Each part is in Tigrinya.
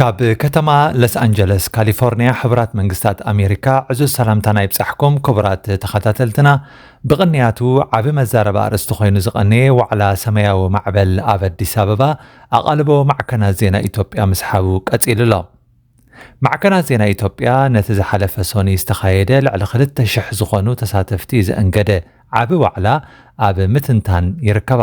ካብ ከተማ ለስ ኣንጀለስ ካሊፎርንያ ሕቡራት መንግስታት ኣሜሪካ ዕዙዝ ሰላምታና ይብጻሕኩም ክቡራት ተኸታተልትና ብቕንያቱ ዓቢ መዛረባ ኣርእስቲ ኮይኑ ዝቐነየ ዋዕላ ሰማያዊ ማዕበል ኣብ ኣዲስ ኣበባ ኣቓልቦ ማዕከናት ዜና ኢትዮጵያ ምስሓቡ ቀጺሉ ኣሎ ማዕከናት ዜና ኢትዮጵያ ነቲ ዝሓለፈ ሶኒ ዝተኻየደ ልዕሊ 2,000 ዝኾኑ ተሳተፍቲ ዘእንገደ ዓቢ ዋዕላ ኣብ ምትንታን ይርከባ።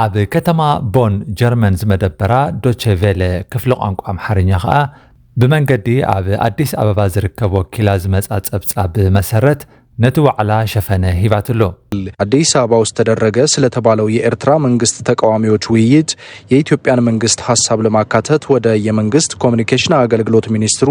ኣብ ከተማ ቦን ጀርመን ዝመደበራ ዶቼ ቬለ ክፍሊ ቋንቋ ኣምሓርኛ ከኣ ብመንገዲ ኣብ ኣዲስ ኣበባ ዝርከብ ወኪላ ዝመጻ ጸብጻብ መሰረት ነቲ ዋዕላ ሸፈነ ሂባትሉ። አዲስ አበባ ውስጥ ተደረገ ስለተባለው የኤርትራ መንግስት ተቃዋሚዎች ውይይት የኢትዮጵያን መንግስት ሀሳብ ለማካተት ወደ የመንግስት ኮሚኒኬሽን አገልግሎት ሚኒስትሩ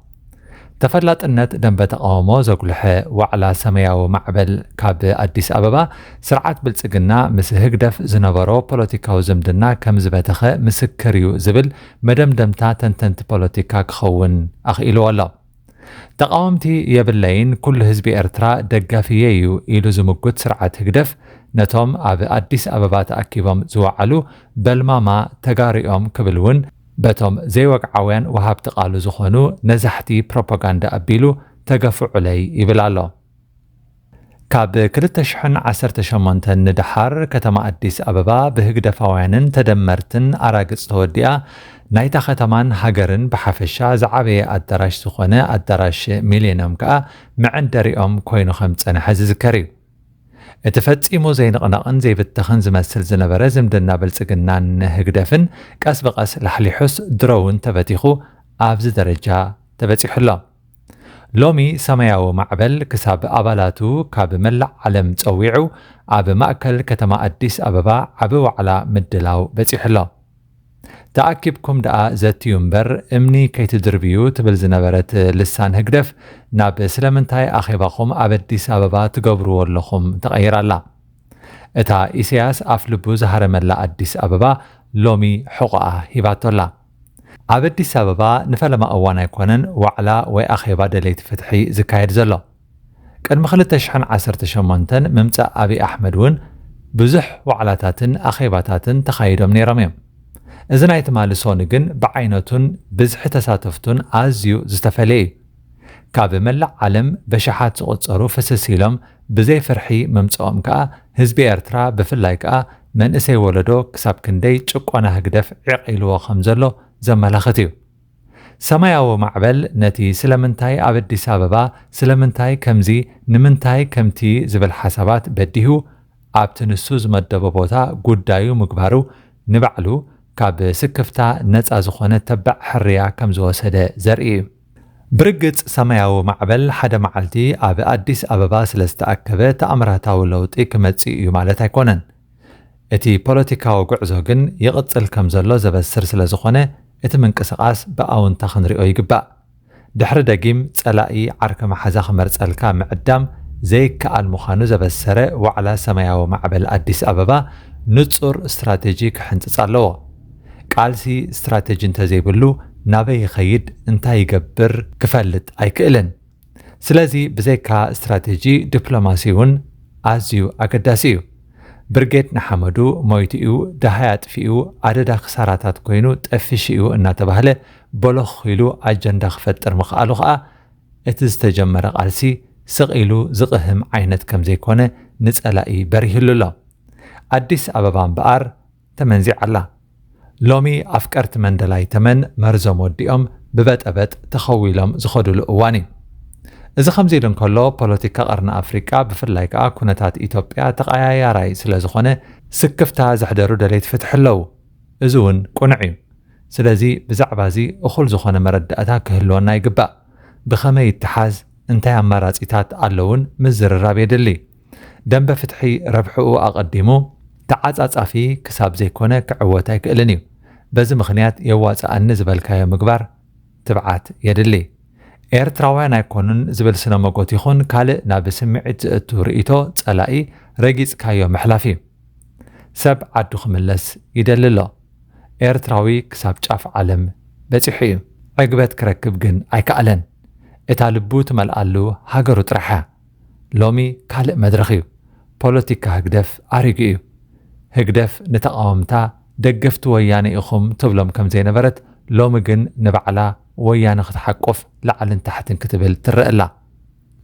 ተፈላጥነት ደንበ ተቓውሞ ዘጉልሐ ዋዕላ ሰመያዊ ማዕበል ካብ ኣዲስ ኣበባ፣ ስርዓት ብልጽግና ምስ ህግደፍ ዝነበሮ ፖለቲካዊ ዝምድና ከም ዝበተኸ ምስክር እዩ ዝብል መደምደምታ ተንተንቲ ፖለቲካ ክኸውን ኣኽኢልዎ ኣሎ። ተቓወምቲ የብለይን፣ ኩሉ ህዝቢ ኤርትራ ደጋፊየይ እዩ ኢሉ ዝምጉት ስርዓት ህግደፍ፣ ነቶም ኣብ ኣዲስ ኣበባ ተኣኪቦም ዝወዓሉ በልማማ ተጋሩ'ዮም ክብል'ውን በቶም ዘይወግዓውያን ወሃብቲ ቃሉ ዝኾኑ ነዛሕቲ ፕሮፓጋንዳ ኣቢሉ ተገፍዑለይ ይብል ኣሎ። ካብ ክልተ ሽሕን ዓሰርተ ሸሞንተን ንደሓር ከተማ ኣዲስ ኣበባ ብህግደፋውያንን ተደመርትን ኣራግጽ ተወዲኣ ናይታ ከተማን ሃገርን ብሓፈሻ ዝዓበየ ኣዳራሽ ዝኾነ ኣዳራሽ ሚሌንዮም ከኣ መዐንደሪኦም ኮይኑ ከም ዝጸንሐ ዝዝከር እዩ። እቲ ፈጺሙ ዘይንቕነቕን ዘይብተኽን ዝመስል ዝነበረ ዝምድና ብልጽግናን ህግደፍን ቀስ ብቐስ ላሕሊሑስ ድሮ'ውን ተበቲኹ ኣብዚ ደረጃ ተበጺሑ ኣሎ። ሎሚ ሰማያዊ ማዕበል ክሳብ ኣባላቱ ካብ መላእ ዓለም ጸዊዑ ኣብ ማእከል ከተማ ኣዲስ ኣበባ ዓቢ ዋዕላ ምድላው በጺሑ ኣሎ። ተኣኪብኩም ደኣ ዘትዩ እምበር እምኒ ከይትድርብዩ ትብል ዝነበረት ልሳን ህግደፍ ናብ ስለምንታይ ኣኼባኹም ኣብ ኣዲስ ኣበባ ትገብርዎ ኣለኹም ተቐይራ ኣላ። እታ ኢሰያስ ኣፍ ልቡ ዝሃረመላ ኣዲስ ኣበባ ሎሚ ሕቖኣ ሂባቶ ኣላ። ኣብ ኣዲስ ኣበባ ንፈለማ እዋን ኣይኮነን ዋዕላ ወይ ኣኼባ ደለይቲ ፍትሒ ዝካየድ ዘሎ። ቅድሚ ክልተ ሽሕን ዓሰርተ ሸሞንተን ምምጻእ ኣብይ ኣሕመድ እውን ብዙሕ ዋዕላታትን ኣኼባታትን ተኻይዶም ነይሮም እዮም። እዚ ናይ ትማሊ ሶኒ ግን ብዓይነቱን ብዝሒ ተሳተፍቱን ኣዝዩ ዝተፈለየ እዩ። ካብ መላእ ዓለም በሽሓት ዝቑጸሩ ፍስስ ኢሎም ብዘይ ፍርሒ ምምጽኦም ከኣ ህዝቢ ኤርትራ ብፍላይ ከኣ መንእሰይ ወለዶ ክሳብ ክንደይ ጭቆና ህግደፍ ዒቕ ኢልዎ ከምዘሎ ዘመላኽት እዩ። ሰማያዊ ማዕበል ነቲ ስለምንታይ ኣብ ኣዲስ ኣበባ፣ ስለምንታይ ከምዚ፣ ንምንታይ ከምቲ ዝብል ሓሳባት በዲሁ ኣብቲ ንሱ ዝመደቦ ቦታ ጉዳዩ ምግባሩ ንባዕሉ ካብ ስክፍታ ነጻ ዝኾነ ተባዕ ሕርያ ከም ዝወሰደ ዘርኢ እዩ። ብርግጽ ሰማያዊ ማዕበል ሓደ መዓልቲ ኣብ ኣዲስ ኣበባ ስለ ዝተኣከበ ተኣምራታዊ ለውጢ ክመጽእ እዩ ማለት ኣይኮነን። እቲ ፖለቲካዊ ጉዕዞ ግን ይቕጽል ከም ዘሎ ዘበስር ስለ ዝኾነ እቲ ምንቅስቓስ ብኣውንታ ክንሪኦ ይግባእ። ድሕሪ ደጊም ጸላኢ ዓርኪ መሓዛ ክመርጸልካ ምዕዳም ዘይከኣል ምዃኑ ዘበሰረ ዋዕላ ሰማያዊ ማዕበል ኣዲስ ኣበባ ንጹር ስትራቴጂ ክሕንጽጽ ኣለዎ። ቃልሲ ስትራቴጂ እንተዘይብሉ ናበይ ይኸይድ እንታይ ይገብር ክፈልጥ ኣይክእልን። ስለዚ ብዘይካ ስትራቴጂ ዲፕሎማሲ'ውን ኣዝዩ ኣገዳሲ እዩ። ብርጌድ ንሓመዱ ሞይቱ'ዩ፣ ደሃይ ኣጥፊኡ፣ ኣደዳ ክሳራታት ኮይኑ ጠፊሹ'ዩ እናተባህለ ቦሎኽ ኢሉ ኣጀንዳ ክፈጥር ምኽኣሉ ከኣ እቲ ዝተጀመረ ቃልሲ ስቕ ኢሉ ዝቕህም ዓይነት ከምዘይኮነ ንጸላኢ በሪህሉ ኣሎ። ኣዲስ ኣበባ እምበኣር ተመንዚዓላ ሎሚ ኣፍቀርቲ መንደላይ ተመን መርዞም ወዲኦም ብበጠበጥ ተኸዊሎም ዝኸዱሉ እዋን እዩ። እዚ ከምዚ ኢሉ እንከሎ ፖለቲካ ቀርኒ ኣፍሪቃ ብፍላይ ከኣ ኩነታት ኢትዮጵያ ተቐያያራይ ስለዝኾነ ስክፍታ ዘሕደሩ ደለይቲ ፍትሒ ኣለዉ። እዚ እውን ቅኑዕ እዩ። ስለዚ ብዛዕባ እዚ እኹል ዝኾነ መረዳእታ ክህልወና ይግባእ። ብኸመይ ይተሓዝ እንታይ ኣማራጺታት ኣለዉን ምዝርራብ የድሊ። ደምበ ፍትሒ ረብሕኡ ኣቐዲሙ ተዓጻጻፊ ክሳብ ዘይኮነ ክዕወት ኣይክእልን እዩ። በዚ ምኽንያት የዋጽኣኒ ዝበልካዮ ምግባር ትብዓት የድሊ። ኤርትራውያን ኣይኮኑን ዝብል ስነሞጎት ይኹን ካልእ ናብ ስምዒት ዘእቱ ርእይቶ ጸላኢ ረጊጽካዮ ምሕላፍ እዩ። ሰብ ዓዱ ክምለስ ይደሊ ኣሎ። ኤርትራዊ ክሳብ ጫፍ ዓለም በጺሑ እዩ። ዕግበት ክረክብ ግን ኣይከኣለን። እታ ልቡ ትመልኣሉ ሃገሩ ጥራሕ እያ። ሎሚ ካልእ መድረኽ እዩ። ፖለቲካ ህግደፍ ኣሪጉ እዩ። ህግደፍ ንተቓወምታ ደገፍቲ ወያነ ኢኹም ትብሎም ከምዘይነበረት ሎሚ ግን ንባዕላ ወያነ ክትሓቁፍ ላዕልን ታሕትን ክትብል ትረእ ኣላ።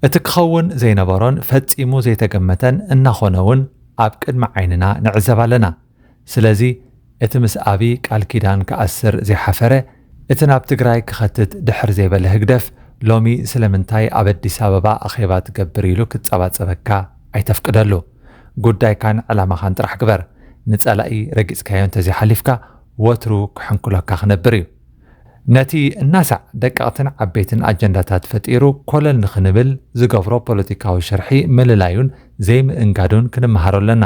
እቲ ክኸውን ዘይነበሮን ፈጺሙ ዘይተገመተን እናኾነ'ውን ኣብ ቅድሚ ዓይንና ንዕዘብ ኣለና። ስለዚ እቲ ምስ ኣብይ ቃል ኪዳን ክኣስር ዘይሓፈረ፣ እቲ ናብ ትግራይ ክኸትት ድሕር ዘይበለ ህግደፍ ሎሚ ስለምንታይ ኣብ ኣዲስ ኣበባ ኣኼባ ትገብር ኢሉ ክጸባጸበካ ኣይተፍቅደሉ። ጉዳይካን ዕላማኻን ጥራሕ ግበር። ንጸላኢ ረጊጽካዮ እንተዘይሓሊፍካ ወትሩ ክሕንኩለካ ክነብር እዩ። ነቲ እናሳዕ ደቀቕትን ዓበይትን ኣጀንዳታት ፈጢሩ ኮለል ንኽንብል ዝገብሮ ፖለቲካዊ ሽርሒ ምልላዩን ዘይምእንጋዱን ክንመሃሮ ኣለና።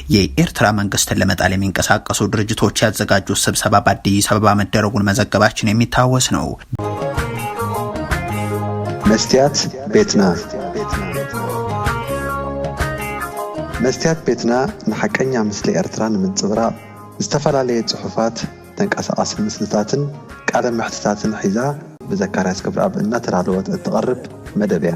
የኤርትራ መንግስትን ለመጣል የሚንቀሳቀሱ ድርጅቶች ያዘጋጁት ስብሰባ በአዲስ አበባ መደረጉን መዘገባችን የሚታወስ ነው። መስትያት ቤትና መስትያት ቤትና ንሓቀኛ ምስሊ ኤርትራ ንምንጽብራቕ ዝተፈላለየ ጽሑፋት፣ ተንቀሳቓሲ ምስልታትን ቃለ መሕትታትን ሒዛ ብዘካርያስ ገብረኣብ እናተዳለወት እትቐርብ መደብ እያ።